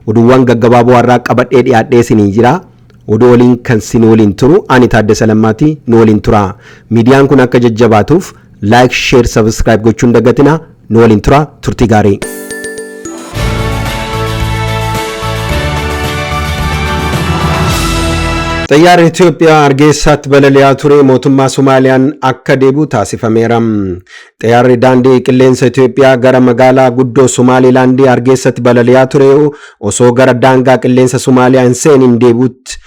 oduuwwan gaggabaaboo har'aa qabadhee dhiyaadhee isinii jira. Oduu waliin kan sin waliin turu ani Taaddasa Lammaati nu waliin tura. Miidiyaan kun akka jajjabaatuuf laayik, sheer, sabiskiraayib gochuun dagatina Nu waliin turaa turtii gaarii. Xayyaarri Itoophiyaa Hargeysaatti balali'aa ture mootummaa Somaaliyaan akka deebi'u taasifameera. Xayyaarri daandii qilleensa Itoophiyaa gara magaalaa guddoo Somaalilaandii Hargeysatti balali'aa ture osoo gara daangaa qilleensa Somaaliyaa hin seeniin deebi'utti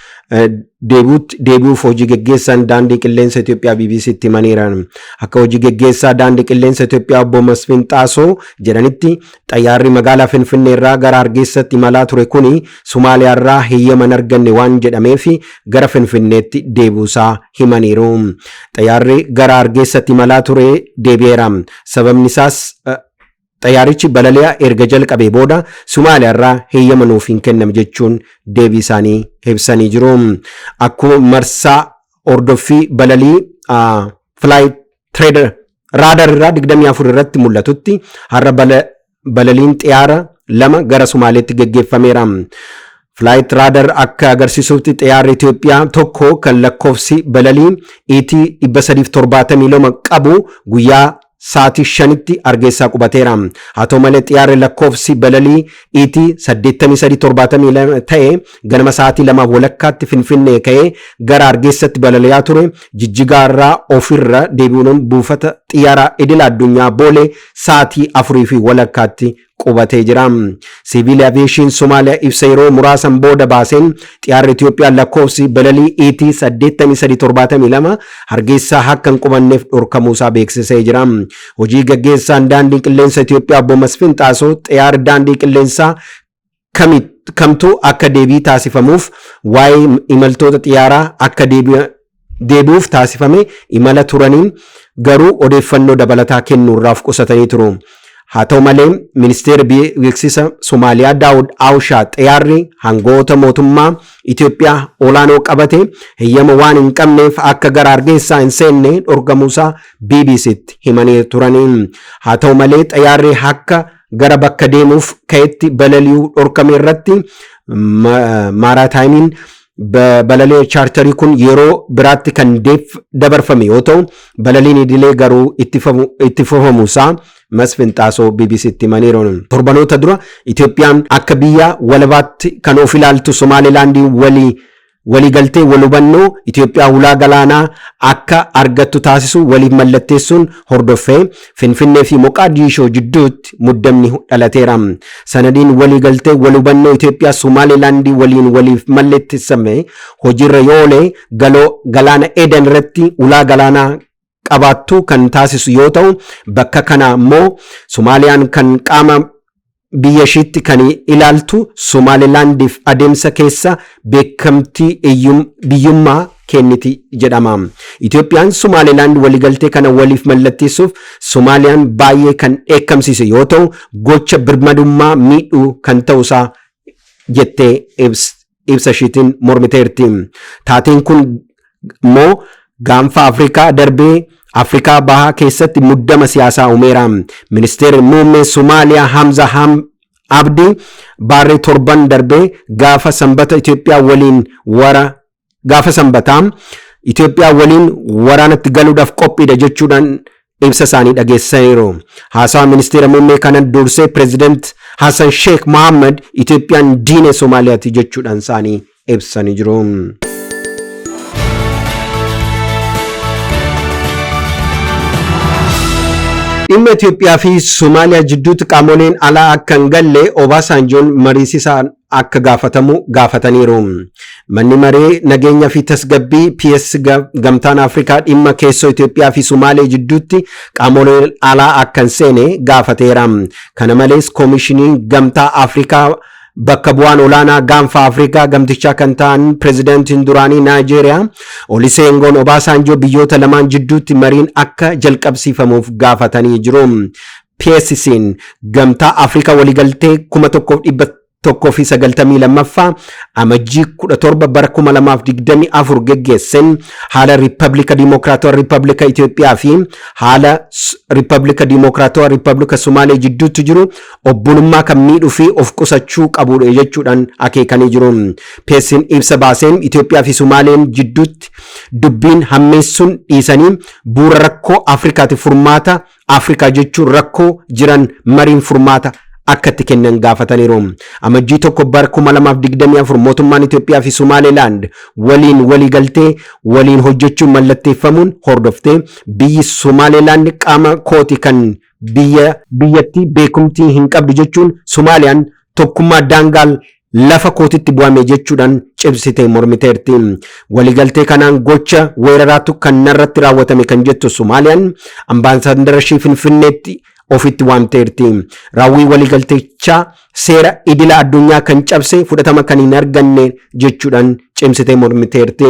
deebi'utti deebi'uuf hojii geggeessaan daandii qilleensa Itoophiyaa BBC'tti himaniiran. Akka hojii geggeessaa daandii qilleensa Itoophiyaa obbo Masfin Xaasoo jedhanitti xayyaarri magaalaa Finfinnee irraa gara Hargeessatti imalaa ture kuni Somaaliyaa irraa heeyyama hin arganne waan jedhameef gara Finfinneetti deebi'uusaa himaniiru. Xayyaarri gara Hargeessatti imalaa ture deebi'eera. Sababni isaas Xayyaarichi balali'a erga jalqabee booda Sumaaliyaarraa heeyyama nuuf hin kenname jechuun deebii isaanii ibsanii jiru. Akkuma marsaa hordoffii balalii Flight Trader Radar irraa 24 irratti mul'atutti har'a balaliin xiyaara lama gara Sumaaleetti geggeeffameera. Flight Radar akka agarsiisutti xiyaarri Itoophiyaa tokko kan lakkoofsi balalii ET 372 qabu guyyaa sa'aatii 5tti Hargeessaa qubateera. Haa ta'u malee xiyaarri lakkoofsi balalii ET 8372 ta'e ganama sa'aatii 2 walakkaatti Finfinnee ka'ee gara Hargeessatti balali'aa ture Jijjigaa irraa ofirra deebi'uun buufata xiyyaaraa idila addunyaa Boolee sa'aatii 4 fi walakkaatti qubatee jira. Siviil Aviyeeshiin Somaaliyaa ibsa yeroo muraasan booda baaseen xiyaarri Itiyoophiyaa lakkoofsi balalii ET 8372 Hargeessaa akka hin qubanneef dhorkamuusaa beeksisee jira. Hojii gaggeessaan daandii qilleensa Itiyoophiyaa obbo Masfin Xaasoo xiyaarri daandii qilleensaa kami kamtu akka deebii taasifamuuf waa'ee imaltoota xiyyaaraa akka deebi'a- deebi'uuf taasifame imala turaniin garuu odeeffannoo dabalataa kennuurraa of qusatanii turu. Haa ta'u malee ministeerri bi- beeksisa Somaaliyaa Daawud Awushaa xiyyaarri hangoota mootummaa Itoophiyaa olaanoo qabate heyyama waan hin qabneef akka gara Hargeessaa hin seenne dhorkamuusaa BBC'tti himanii turanii. Haa ta'u malee xiyyaarri akka gara bakka deemuuf ka'etti balali'uu dhorkame irratti maaraataayimiin balaliin chaartarii kun yeroo biraatti kan dabarfame yoo ta'u balaliin idilee garuu itti fufamu isaa Masfin Xaasoo BBCtti himaniiru. Torbanoota dura Itoophiyaan akka biyya walabaatti kan of ilaaltu Somaalilaandiin walii Waliigaltee walhubannoo Ityoophiyaa hulaa galaanaa akka argattu taasisu waliif mallatteessuun hordoffee Finfinnee fi Moqaadiishoo jidduutti muddamni dhalateera. Sanadiin waliigaltee walhubannoo Ityoophiyaa Somaaliilaandii waliin waliif mallettessame hojiirra yoo oole galoo galaana Eedan irratti hulaa galaanaa qabaattu kan taasisu yoo ta'u, bakka kanaa immoo Somaaliyaan kan qaama biyya ishiitti kan ilaaltu Somaalilaandiif adeemsa keessa beekamtii iyyum- biyyummaa kenniti jedhama. Itoophiyaan Somaalilaand waliigaltee kana waliif mallatteessuuf Somaaliyaan baay'ee kan dheekkamsiise yoo ta'u, gocha birmadummaa miidhu kan ta'usaa jettee ibs- ibsa ishiitiin mormiteerti. Taateen kun immoo gaanfa Afrikaa darbee Afrikaa bahaa keessatti muddama siyaasaa uumeera. Ministeerri muummee Somaaliyaa Hamza Ham Abdi baarree torban darbee gaafa sanbata Itoophiyaa waliin wara gaafa sanbataa Itoophiyaa waliin waraanatti galuudhaaf qophiidha jechuudhaan ibsa isaanii dhageessisaniiru. Haasaa ministeera muummee kana dursee pireezidant Hasan Sheek Mohaammed Itoophiyaan diina Somaaliyaati jechuudhaan isaanii ibsanii jiru. Dhimma Itoophiyaa fi Somaaliyaa jidduutti qaamoleen alaa akka hin galle Obaasaanjoon mariisisaa akka gaafatamu gaafataniiru. Manni maree nageenya fi tasgabbii PS gamtaan Afrikaa dhimma keessoo Itoophiyaa fi Sumaalee jidduutti qaamoleen alaa akka hin seene gaafateera. Kana malees koomishiniin gamtaa Afrikaa bakka bu'aan olaanaa gaanfa Afrikaa gamtichaa kan ta'an pirezidaantiin duraanii Naayijeeriyaa Oliseengoon Obaasaanjoo biyyoota lamaan jidduutti mariin akka jalqabsiifamuuf gaafatanii jiru. PSC'n Gamtaa Afrikaa waliigaltee 1192ffaa Amajjii 17 bara 2024 geggeesseen haala Riippablika Diimookiraatawaa Riippablika Itoophiyaa fi haala Riippablika Diimookiraatawaa Riippablika Somaalee jidduutti jiru obbolummaa kan miidhuu fi of qusachuu qabuudha jechuudhaan akeekanii jiru. PSC'n ibsa baaseen Itoophiyaa fi Somaaleen jidduutti dubbiin hammeessuun dhiisanii bu'uura rakkoo Afrikaatiif furmaata Afrikaa jechuun rakkoo jiran mariin furmaata akka itti kennan gaafataniiru. Amajjii tokko bara 2024 mootummaan Itoophiyaa fi Somaalilaand waliin waliigaltee waliin hojjechuun mallatteeffamuun hordoftee biyyi Somaalilaand qaama kooti kan biyya biyyattii beekumtii hin qabdu jechuun Somaaliyaan tokkummaa daangaal lafa kootitti bu'ame jechuudhaan cimsitee mormiteerti. Waliigaltee kanaan gocha weeraraatu kan narratti raawwatame kan jettu Somaaliyaan ambaasaaddara ishii Finfinneetti ofitti waamteerti. Raawwii waliigaltichaa seera idila addunyaa kan cabse fudhatama kan hin arganne jechuudhaan cimsitee mormiteerti.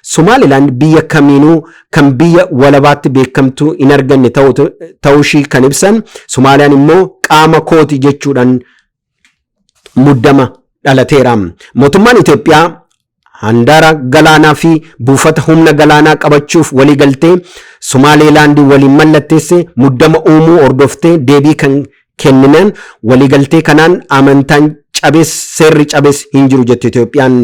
Somaalilaand biyya kamiinuu kan biyya walabaatti beekamtuu hin arganne ta'uu ishii kan ibsan Somaaliyaan immoo qaama kooti jechuudhaan muddama dhalateera. Mootummaan Itoophiyaa handaara galaanaa fi buufata humna galaanaa qabachuuf waliigaltee Somaaleelaandii waliin mallatteesse muddama uumuu hordoftee deebii kan kenninaan waliigaltee kanaan amantaan cabes seerri cabes hin jiru jette Itoophiyaan.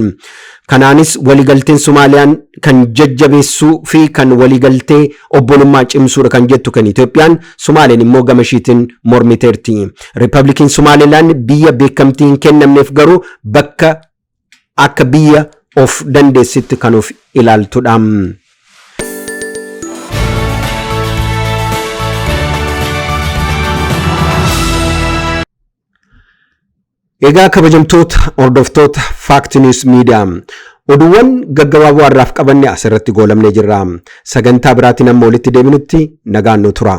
Kanaanis waligalteen Somaaliyaan kan jajjabeessuu fi kan waligaltee obbolummaa cimsuudha kan jettu kan Itoophiyaan, Somaaleen immoo gama ishiitin mormiteerti. Riippablikiin Somaalilaand biyya beekamtii hin kennamneef garuu bakka akka biyya of dandeessitti kan of ilaaltudha. Egaa kabajamtoota hordoftoota Fact News Media oduuwwan gaggabaaboo har'aaf qabanne asirratti goolabnee jirra. Sagantaa biraatiin amma walitti deebinutti nagaan nu tura.